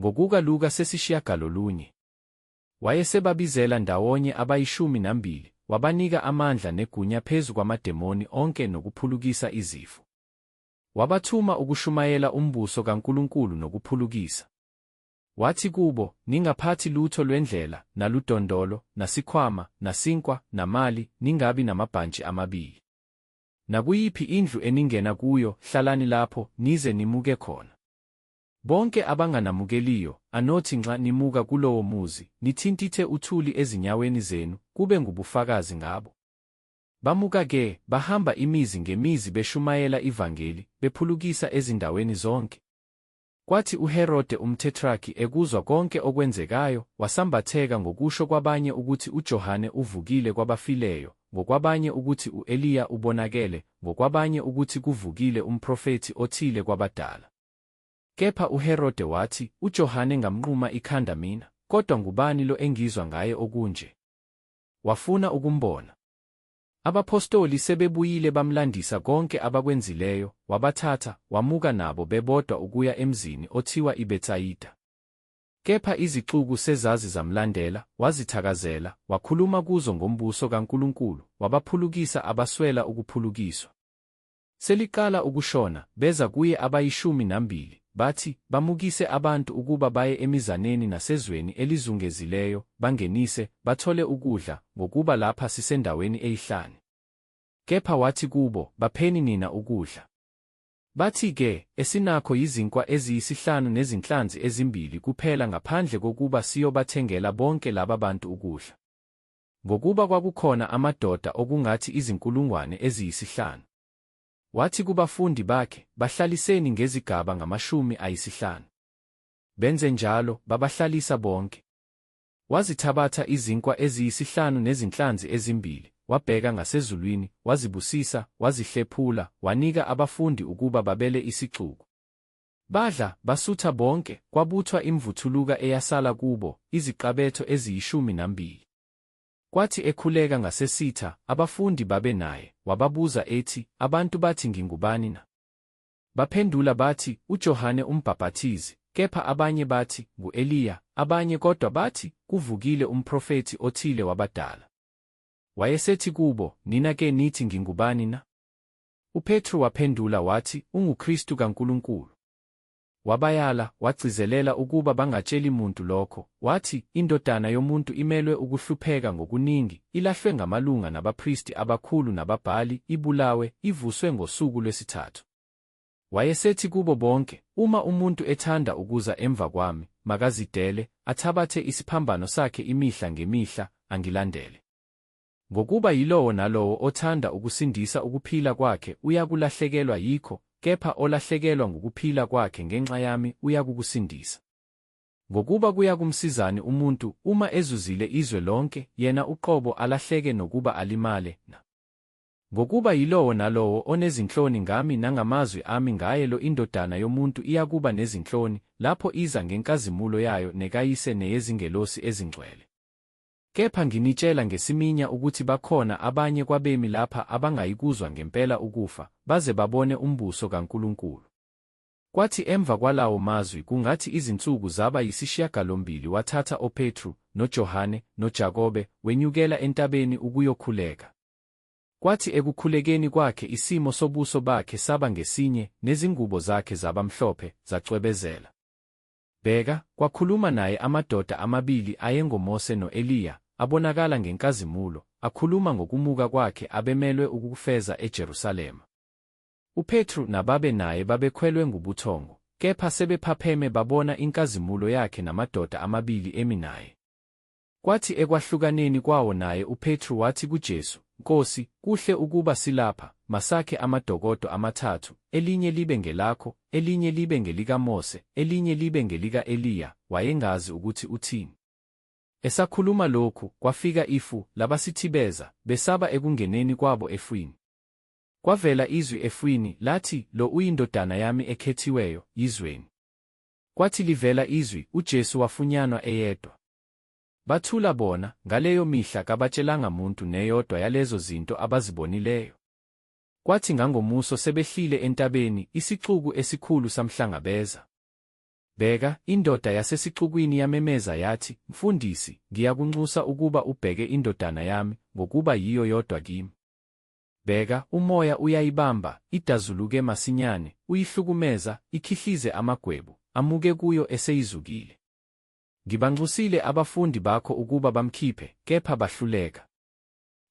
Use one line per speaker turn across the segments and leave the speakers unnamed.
Ngokuka Luka sesishiyagalolunye. Wayesebabizela ndawonye abayishumi nambili, wabanika amandla negunya phezu kwamademoni onke nokuphulukisa izifo. Wabathuma ukushumayela umbuso kaNkulunkulu nokuphulukisa. Wathi kubo, Ningaphathi lutho lwendlela, naludondolo, nasikhwama, nasinkwa, namali, ningabi namabhantshi amabili. Nakuyiphi indlu eningena kuyo, hlalani lapho, nize nimuke khona. Bonke abanganamukeliyo, anothi nxa nimuka kulowo muzi, nithintithe uthuli ezinyaweni zenu, kube ngubufakazi ngabo. Bamuka-ke, bahamba imizi ngemizi beshumayela ivangeli, bephulukisa ezindaweni zonke. Kwathi uHerode umThethraki ekuzwa konke okwenzekayo, wasambatheka ngokusho kwabanye ukuthi uJohane uvukile kwabafileyo, ngokwabanye ukuthi u-Eliya ubonakele, ngokwabanye ukuthi kuvukile umprofethi othile kwabadala. Kepha uHerode wathi, UJohane ngamnquma ikhanda mina, kodwa ngubani lo engizwa ngaye okunje? Wafuna ukumbona. Abaphostoli sebebuyile bamlandisa konke abakwenzileyo, wabathatha, wamuka nabo bebodwa ukuya emzini othiwa iBetsayida. Kepha izixuku sezazi zamlandela, wazithakazela, wakhuluma kuzo ngombuso kaNkulunkulu, wabaphulukisa abaswela ukuphulukiswa. Seliqala ukushona, beza kuye abayishumi nambili, bathi, Bamukise abantu ukuba baye emizaneni nasezweni elizungezileyo, bangenise, bathole ukudla, ngokuba lapha sisendaweni eyihlane. Kepha wathi kubo, Bapheni nina ukudla. Bathi-ke, Esinakho yizinkwa eziyisihlanu nezinhlanzi ezimbili kuphela ngaphandle kokuba siyobathengela bonke laba bantu ukudla. ngokuba kwakukhona amadoda okungathi izinkulungwane eziyisihlanu. Wathi kubafundi bakhe, Bahlaliseni ngezigaba ngamashumi ayisihlanu. Benze njalo, babahlalisa bonke. Wazithabatha izinkwa eziyisihlanu nezinhlanzi ezimbili, wabheka ngasezulwini, wazibusisa, wazihlephula, wanika abafundi ukuba babele isixuku. Badla, basutha bonke, kwabuthwa imvuthuluka eyasala kubo, iziqabetho eziyishumi nambili. Kwathi ekhuleka ngasesitha, abafundi babe naye, wababuza ethi, Abantu bathi ngingubani na? Baphendula bathi, UJohane uMbhabhathizi, kepha abanye bathi, Ngu-Eliya, abanye kodwa bathi, Kuvukile umprofethi othile wabadala. Wayesethi kubo, Nina-ke nithi ngingubani na? UPetru waphendula wathi, UnguKristu kaNkulunkulu. Wabayala, wagcizelela ukuba bangatsheli muntu lokho, wathi, INdodana yomuntu imelwe ukuhlupheka ngokuningi, ilahlwe ngamalunga nabapristi abakhulu nababhali, ibulawe, ivuswe ngosuku lwesithathu. Wayesethi kubo bonke, Uma umuntu ethanda ukuza emva kwami, makazidele, athabathe isiphambano sakhe imihla ngemihla, angilandele. Ngokuba yilowo nalowo othanda ukusindisa ukuphila kwakhe uyakulahlekelwa yikho, kepha olahlekelwa ngukuphila kwakhe ngenxa yami uyakukusindisa. Ngokuba kuyakumsizani umuntu uma ezuzile izwe lonke, yena uqobo alahleke nokuba alimale na? Ngokuba yilowo nalowo onezinhloni ngami nangamazwi ami ngaye lo iNdodana yomuntu iyakuba nezinhloni, lapho iza ngenkazimulo yayo nekaYise neyezingelosi ezingcwele. Kepha nginitshela ngesiminya ukuthi bakhona abanye kwabemi lapha abangayikuzwa ngempela ukufa, baze babone umbuso kaNkulunkulu. Kwathi emva kwalawo mazwi kungathi izinsuku zaba yisishiyagalombili wathatha oPetru, noJohane, noJakobe, wenyukela entabeni ukuyokhuleka. Kwathi ekukhulekeni kwakhe isimo sobuso bakhe saba ngesinye, nezingubo zakhe zaba mhlophe, zacwebezela. Bheka, kwakhuluma naye amadoda amabili ayengoMose no-Eliya, abonakala ngenkazimulo, akhuluma ngokumuka kwakhe abemelwe ukukufeza eJerusalema. UPetru nababe naye babekhwelwe ngubuthongo, kepha sebephapheme babona inkazimulo yakhe namadoda amabili emi naye. Kwathi ekwahlukaneni kwawo naye uPetru wathi kuJesu, Nkosi, kuhle ukuba silapha, masakhe amadokodo amathathu, elinye libe ngelakho, elinye libe ngelikaMose, elinye libe ngelika-Eliya, wayengazi ukuthi uthini. Esakhuluma lokhu, kwafika ifu, labasithibeza, besaba ekungeneni kwabo efwini. Kwavela izwi efwini, lathi, Lo uyiNdodana yami ekhethiweyo, yizweni. Kwathi livela izwi, uJesu wafunyanwa eyedwa. Bathula bona, ngaleyo mihla kabatshelanga muntu neyodwa yalezo zinto abazibonileyo. Kwathi ngangomuso sebehlile entabeni, isixuku esikhulu samhlangabeza. Bheka, indoda yasesixukwini yamemeza yathi, Mfundisi, ngiyakunxusa ukuba ubheke indodana yami, ngokuba yiyo yodwa kimi. Bheka, umoya uyayibamba, idazuluke masinyane, uyihlukumeza, ikhihlize amagwebu, amuke kuyo eseyizukile. Ngibanxusile abafundi bakho ukuba bamkhiphe, kepha bahluleka.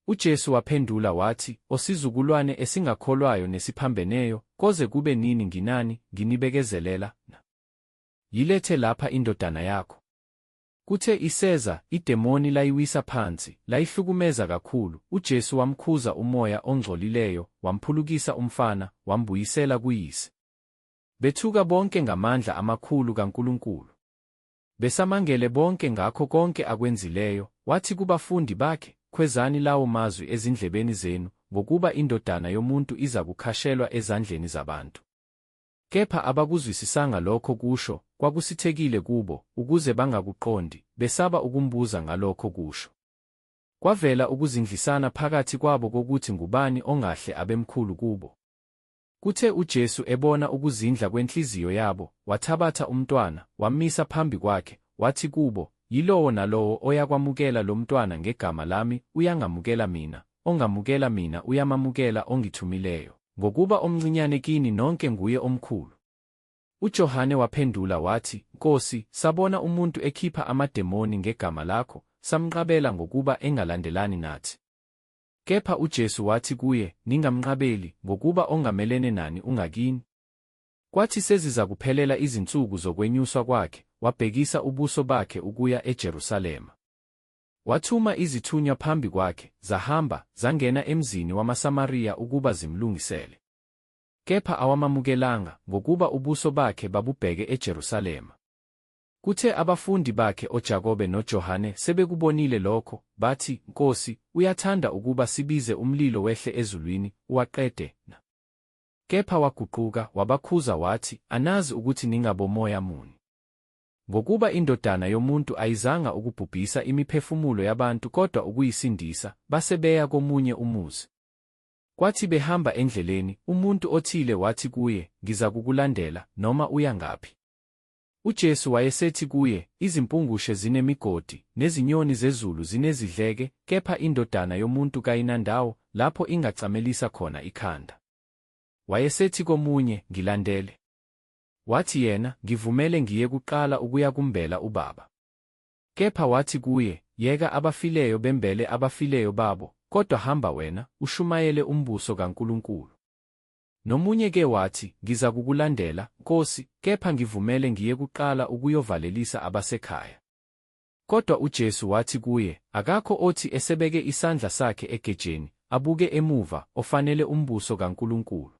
UJesu waphendula wathi, Osizukulwane esingakholwayo nesiphambeneyo, koze kube nini nginani, nginibekezelela na? Yilethe lapha indodana yakho. Kuthe iseza, idemoni layiwisa phansi, layihlukumeza kakhulu, uJesu wamkhuza umoya ongcolileyo, wamphulukisa umfana, wambuyisela kuyise. Bethuka bonke ngamandla amakhulu kaNkulunkulu. Besamangele bonke ngakho konke akwenzileyo, wathi kubafundi bakhe, Khwezani lawo mazwi ezindlebeni zenu, ngokuba iNdodana yomuntu iza kukhashelwa ezandleni zabantu. Kepha abakuzwisisanga lokho kusho, kwakusithekile kubo, ukuze bangakuqondi, besaba ukumbuza ngalokho kusho. Kwavela ukuzindlisana phakathi kwabo kokuthi ngubani ongahle abemkhulu kubo. Kuthe uJesu ebona ukuzindla kwenhliziyo yabo, wathabatha umntwana, wammisa phambi kwakhe, wathi kubo, Yilowo nalowo oyakwamukela lo mntwana ngegama lami uyangamukela mina, ongamukela mina uyamamukela ongithumileyo. Ngokuba omncinyane kini nonke nguye omkhulu. UJohane waphendula wathi, Nkosi, sabona umuntu ekhipha amademoni ngegama lakho, samnqabela ngokuba engalandelani nathi. Kepha uJesu wathi kuye, Ningamnqabeli, ngokuba ongamelene nani ungakini. Kwathi sezizakuphelela izinsuku zokwenyuswa kwakhe, wabhekisa ubuso bakhe ukuya eJerusalema. Wathuma izithunywa phambi kwakhe, zahamba, zangena emzini wamaSamariya ukuba zimlungisele. Kepha awamamukelanga, ngokuba ubuso bakhe babubheke eJerusalema. Kuthe abafundi bakhe oJakobe noJohane sebekubonile lokho, bathi, Nkosi, uyathanda ukuba sibize umlilo wehle ezulwini, uwaqede na? Kepha waguquka, wabakhuza wathi, Anazi ukuthi ningabomoya muni. Ngokuba iNdodana yomuntu ayizanga ukubhubhisa imiphefumulo yabantu kodwa ukuyisindisa, base beya komunye umuzi. Kwathi behamba endleleni, umuntu othile wathi kuye, Ngizakukulandela, noma uya ngaphi. UJesu wayesethi kuye, Izimpungushe zinemigodi, nezinyoni zezulu zinezidleke, kepha iNdodana yomuntu kayinandawo lapho ingacamelisa khona ikhanda. Wayesethi komunye, Ngilandele. Wathi yena, Ngivumele ngiye kuqala ukuya kumbela uBaba. Kepha wathi kuye, Yeka abafileyo bembele abafileyo babo, kodwa hamba wena, ushumayele umbuso kaNkulunkulu. Nomunye ke wathi, Ngizakukulandela, Nkosi, kepha ngivumele ngiye kuqala ukuyovalelisa abasekhaya. Kodwa uJesu wathi kuye, Akakho othi esebeke isandla sakhe egejeni, abuke emuva, ofanele umbuso kaNkulunkulu.